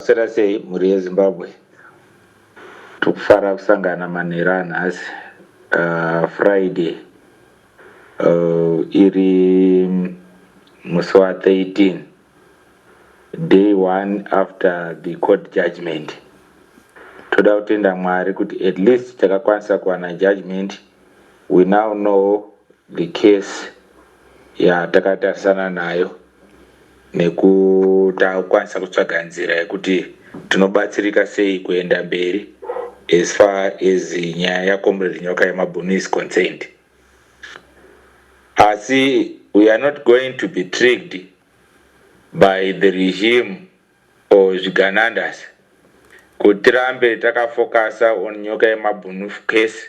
Maswera sei mhuri yeZimbabwe? Tiri kufara kusangana manheru anhasi uh, Friday uh, iri musi wa 13 day one after the court judgment toda kutenda mwari kuti at least takakwanisa kuwana judgment we now know the case Yaa takatarisana nayo nekukwanisa kutsvaga nzira yekuti tinobatsirika sei kuenda mberi as far as nyaya ya Comrade Nyoka yemabhunu is concerned. Asi we are not going to be tricked by the regime or zviganandas kuti tirambe takafokasa on Nyoka yemabhunu case.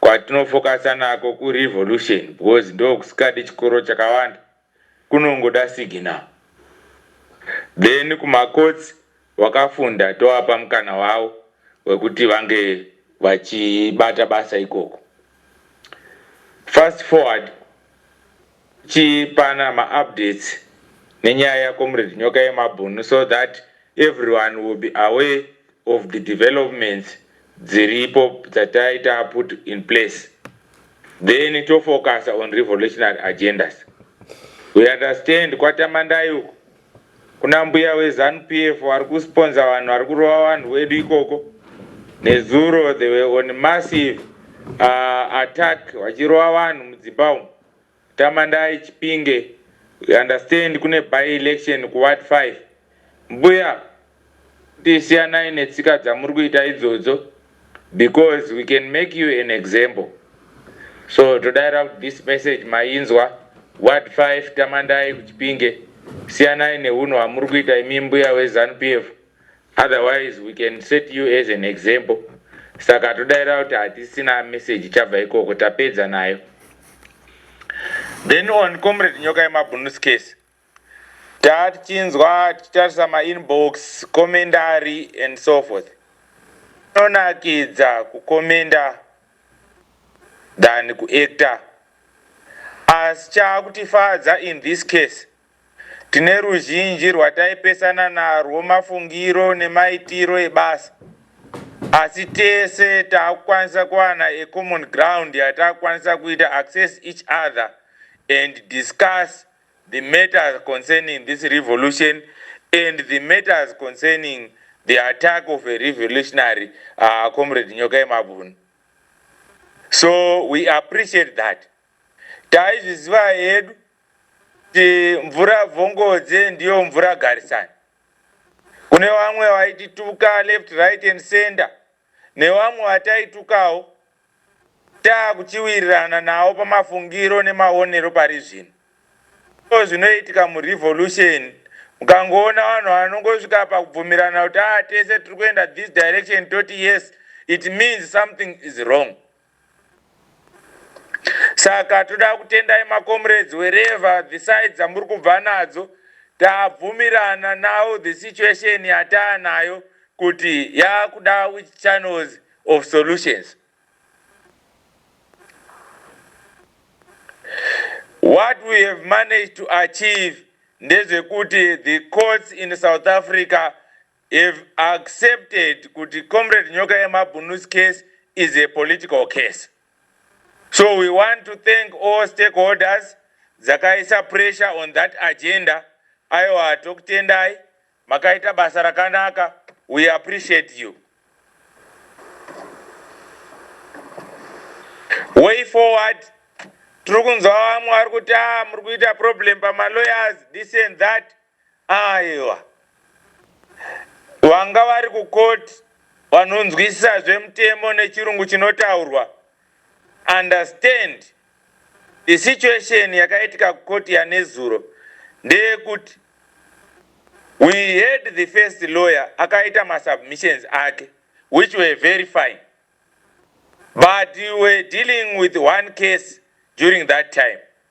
Kwatinofocuser nako ku revolution because ndokusikadi chikoro chakawanda kunongoda signal then kuma courts wakafunda tovapa mukana wavo wekuti vange vachibata basa ikoko fast forward tichipana ma updates nenyaya ya Comrade Nyoka Yemabhunu so that everyone will be aware of the developments dziripo dzataita put in place then to focusa on revolutionary agendas. We understand kwaTamandai uko kuna mbuya we Zanu PF vari kusponsa vanhu vari kurova vanhu wedu ikoko. Nezuro they were on massive uh, attack vachirova vanhu mudzimba umu. Tamandai Chipinge we understand kune by election ku ward five mbuya kuti siyanai netsika dzamuri kuita idzodzo because we can make you an example so todaira kuti this message mainzwa ward five Tamandai ku Chipinge siyanai nehunhu hwamuri kuita imi mbuya we Zanu PF. Otherwise we can set you as an example saka todaira kuti hatisina message ichabva ikoko tapedza nayo. Then on comrade nyoka yemabhunus case tatichinzwa tichitarisa mainbox komendari and so forth inonakidza kukomenda than kuacta asi chaakutifadza in this case Tine ruzhinji rwataipesana narwo mafungiro nemaitiro ebasa asi tese takukwanisa kuwana a common ground yatakukwanisa kuita access each other and discuss the matters concerning this revolution and the matters concerning the attack of a revolutionary uh, comrade Nyoka Yemabvuni. So we appreciate that. Taizviziva hedu mvura bvongodze ndiyo mvura garisani kune vamwe vaitituka left right and center nevamwe vataitukawo taakuchiwirirana nawo pamafungiro nemaonero pari zvino so zvinoitika murevolution mukangoona vanhu vanongosvika pakubvumirana kuti aa ah, tese tiri kuenda this direction toti yes it means something is wrong Saka toda kutendai macomrades wherever the sides dzamuri kubva nadzo tabvumirana now the situation yataanayo kuti yakuda which channels of solutions. What we have managed to achieve ndezvekuti the courts in South Africa You've accepted kuti Comrade Nyoka Yemabhunu's case is a political case. So we want to thank all stakeholders dzakaisa pressure on that agenda. Aiwa tokutendai makaita basa rakanaka. We appreciate you. Way forward tiri kunzwa vamwe vari kuti ah muri kuita problem pama lawyers this and that. Aiwa. Vanga vari kucourt vanonzwisisa zvemutemo nechirungu chinotaurwa. Understand. The situation yakaitika kucourt yanezuro ndeyekuti we heard the first lawyer akaita masubmissions ake which were very fine. But we were dealing with one case during that time.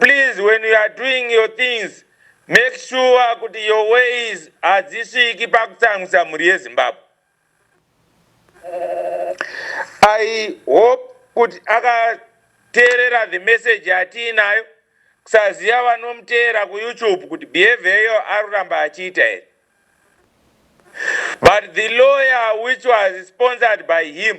Please when you are doing your things make sure kuti your ways hadzisviki pakutsamwisa mhuri yeZimbabwe. I hope kuti akateerera the message yatiinayo kusaziva vanomuteera kuYouTube kuti behavior iyo arikuramba achiita here. But the lawyer which was sponsored by him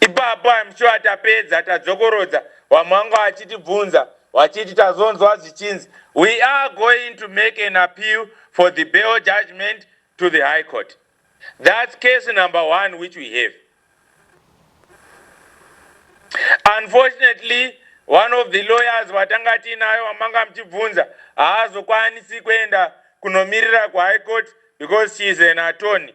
Ipapo I'm sure tapedza tadzokorodza vamwe vanga vachitibvunza vachiti tazonzwa zvichinzi we are going to make an appeal for the bail judgment to the high court. That's case number one which we have. Unfortunately, one of the lawyers vatanga tiinayo vamanga muchibvunza haazokwanisi kuenda kunomirira kuhigh court because she is an attorney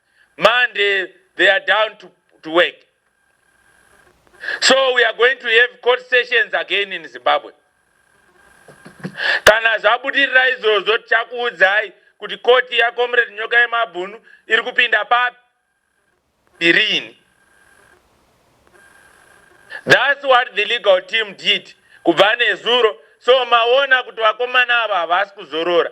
Monday they are down to, to work. So we are going to have court sessions again in Zimbabwe. Kana zvabudirira izvozvo tichakuudzai kuti koti yacomrade nyoka yemabhunu iri kupinda papi irini thats what the legal team did kubva nezuro so maona kuti vakomana ava havasi kuzorora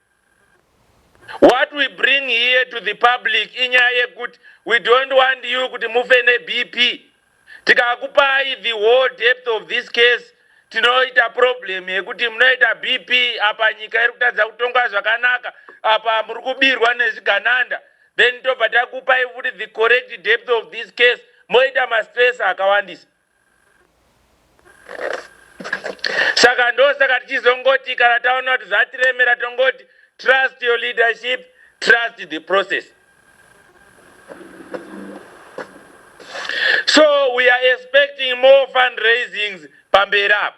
What we bring here to the public inyaya yekut we don't want you kuti mufe neBP. Tikakupai the whole depth of this case tinoita problem yekuti munoita BP apa nyika iri kutadza kutongwa zvakanaka apa muri kubirwa nezvigananda then tobva takupai futi the correct depth of this case moita mastress akawandisa. saka ndosaka tichizongoti kana taona kuti zvatiremera tongoti trust your leadership trust the process so we are expecting more fundraisings pamberi apo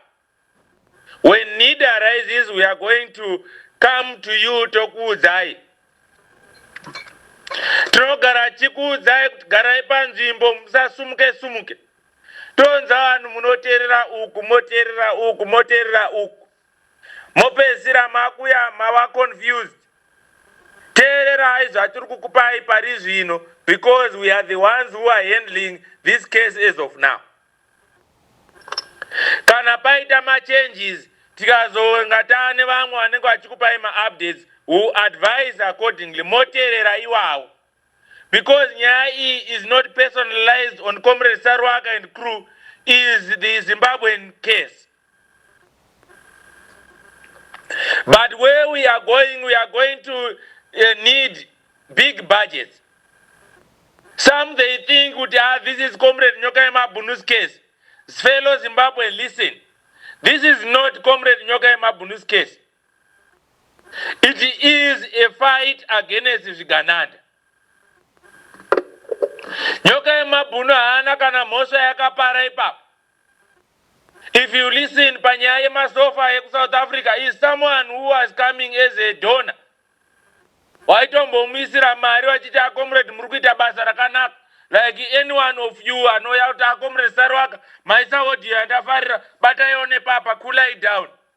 When need arises we are going to come to you tokuudzai. Tinogara tichikuudzai kuti garai panzvimbo musasumuke sumuke. Tonza vanhu munoterera uku moterera uku moterera uku. Mopedzisira makuya mava confused. Teererai zvatiri kukupai pari zvino because we are the ones who are handling this case as of now. Kana paita ma changes tikazonga taane vamwe vanenge vachikupai ma updates we will advise accordingly moteerera iwawo because nyaya iyi is not personalized on Comrade Saruwaka and crew is the Zimbabwean case. But where we are going, we are going to uh, need big budgets. Some they think kuti ah, this is Comrade Nyoka Yemabunu's case. Fellow Zimbabwe, listen. This is not Comrade Nyoka Yemabunu's case. It is a fight against Zvigananda. Nyoka Yemabunu haana kana mhosva yakapara ipapo. If you listen panyaya yemasofa ekuSouth Africa is someone who was coming as a donor waitombomuisira mari wachiti acomrade muri kuita basa rakanaka like anyone of you anouya kuti acomrade Saruwaka maisa audio yandafarira bataiwo nepapa cool down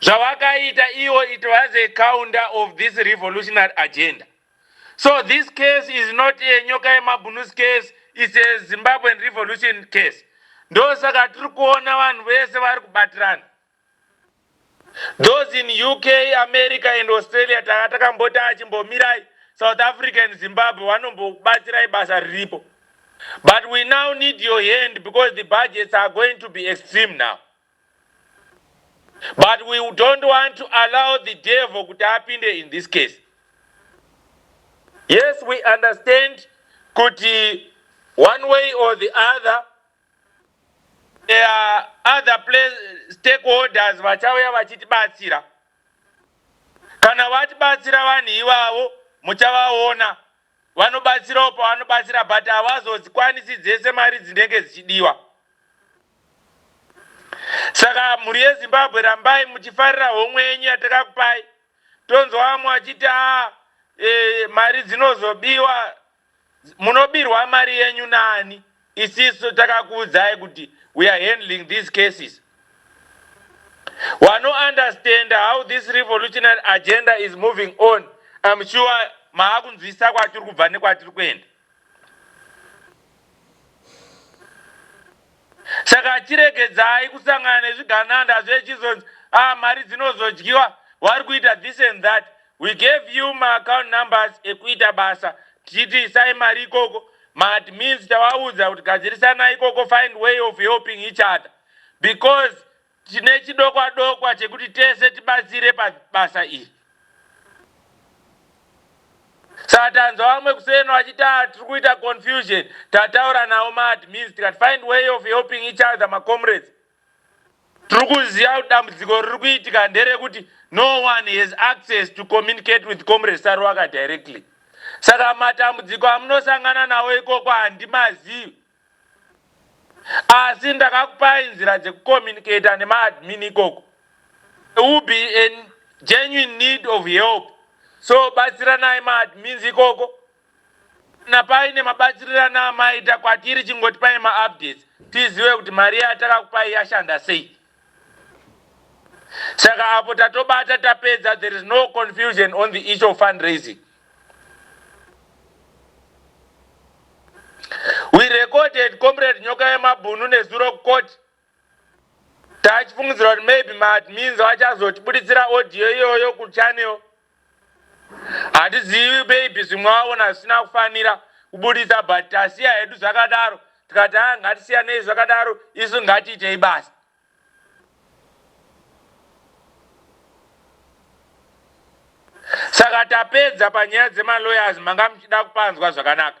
zvawakaita iwo it was a counter of this revolutionary agenda so this case is not a nyoka yemabhunus case it's a zimbabwean revolution case ndosaka tiri kuona vanhu vese vari kubatirana those in uk america and australia tanga takamboti achimbomirai south africa and zimbabwe vanombokubatsirai basa riripo but we now need your hand because the budgets are going to be extreme now But we don't want to allow the devil kuti apinde in this case. Yes, we understand kuti one way or the other there are other place, stakeholders vachauya vachitibatsira. Kana vatibatsira vanhu ivavo muchavaona Vanobatsirawo pavanobatsira but havazozikwanisi dzese mari dzinenge dzichidiwa. Saka mhuri yeZimbabwe rambai muchifarira homwe yenyu yatakakupai. Tonzwa vamwe vachiti haa e, mari dzinozobiwa. Munobirwa mari yenyu nani? Isisu takakuudzai kuti we are handling these cases. Wano understander how this revolutionary agenda is moving on. I'm sure maakunzwisisa kwatiri kubva nekwatiri kuenda. Saka chiregedzai kusangana nezvigananda zvechizonzi ah mari dzinozodyiwa wari kuita this and that. We gave you ma account numbers ekuita basa tichiti isai mari ikoko, ma admins tawaudza kuti gadzirisanai ikoko find way of helping each other because tine chidokwa dokwa chekuti tese tibatsire pa basa iri. Saka tanzwa vamwe kuseno vachiti ah tiri kuita confusion tataura nawo ma admins tikati find way of helping each other ma comrades. Tiri kuziva kuti dambudziko riri kuitika nderekuti no one has access to communicate with Comrade Saruwaka directly saka matambudziko amunosangana nawo ikoko handimazivi asi ndakakupai nzira dzekucommunicator nemaadmin ikoko. There will be a genuine need of help so batsiranai maadmins ikoko. Kana paine mabatsirirano amaita kwatiri chingotipai ma updates tizive kuti mari yataka kupai yashanda sei. Saka apo tatobata tapedza there is no confusion on the issue of fundraising. We recorded Comrade Nyoka Yemabhunu nezuro kucourt Tachifungidzira kuti maybe maadmins vachazotibuditsira audio iyoyo kuchannel. Hatizivi maybe zvimwe vaona zvisina kufanira kubuditsa but tasiya hedu zvakadaro tikati haa ngatisiyanei zvakadaro isu ngatiitei basa. Saka tapedza panyaya dzemalawyers manga muchida kupanzwa zvakanaka.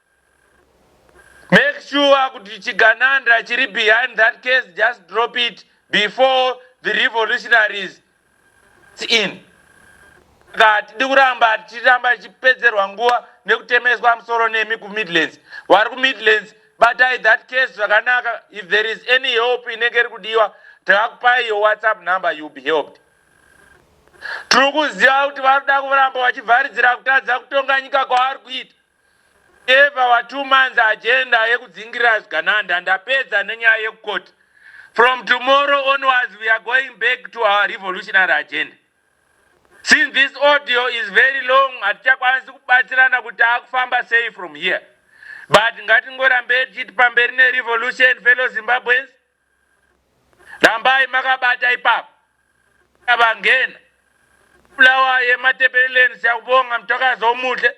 Make sure kuti Chigananda chiri behind that case just drop it before the revolutionaries in saka hatidi kuramba tichiramba tichipedzerwa nguva nekutemeswa musoro nemi kumidlands vari kumidlands batai that case zvakanaka if there is any help inenge iri kudiwa takakupai your whatsapp number youll be helped tiri kuziva kuti vari kuda kuramba vachivharidzira kutadza kutonga nyika kwavari kuita Ndapeva wa two months agenda yekudzingirira zvigananda ndapedza nenyaya yeku court from tomorrow onwards we are going back to our revolutionary agenda since this audio is very long hatichakwanisi kubatsirana kuti taakufamba sei from here but ngatingorambei tichiti pamberi ne revolution fellow Zimbabweans rambai makabata ipapo avangena Bulawayo yematepeleleni siyakubonga mtwakazi omuhle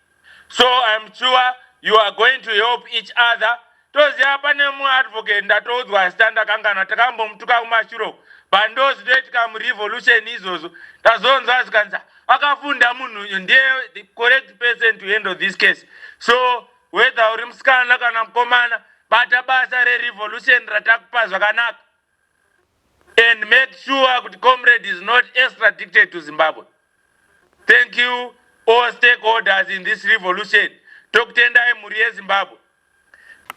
So I'm sure you are going to help each other. Toziva pane mu advocate ndatoudzwa asi tandakanganwa takambomutuka kumashuro but ndozvitoitika mu revolution izvozvo tazonzwa zvikanzi akafunda munhu uyu ndiye the correct person to handle this case. So whether uri musikana kana mukomana bata basa re revolution ratakupa zvakanaka. and make sure kuti comrade is not extradicted to Zimbabwe. Thank you all stakeholders in this revolution. Tokutendai mhuri yeZimbabwe.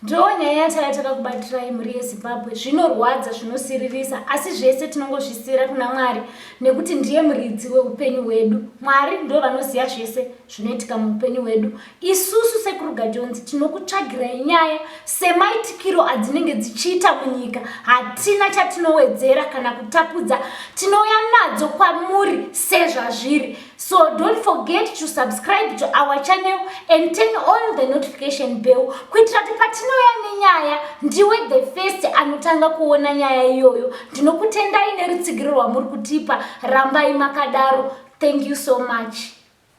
Ndiyo nyaya yataya takakubatirai mhuri yeZimbabwe. Zvinorwadza, zvinosiririsa, asi zvese tinongozvisiyira kuna Mwari nekuti ndiye muridzi wehupenyu hwedu. Mwari ndivo vanoziva zvese zvinoitika muupenyu hwedu. Isusu sekuru Gajonzi tinokutsvagirai nyaya semaitikiro adzinenge dzichiita munyika. Hatina chatinowedzera kana kutapudza, tinouya nadzo kwamuri sezvazviri. So don't forget to subscribe to our channel and turn on the notification bell kuitira kuti patinouya nenyaya ndiwe the first anotanga kuona nyaya iyoyo. Ndinokutendai nerutsigiro rwamuri kutipa, rambai makadaro. Thank you so much.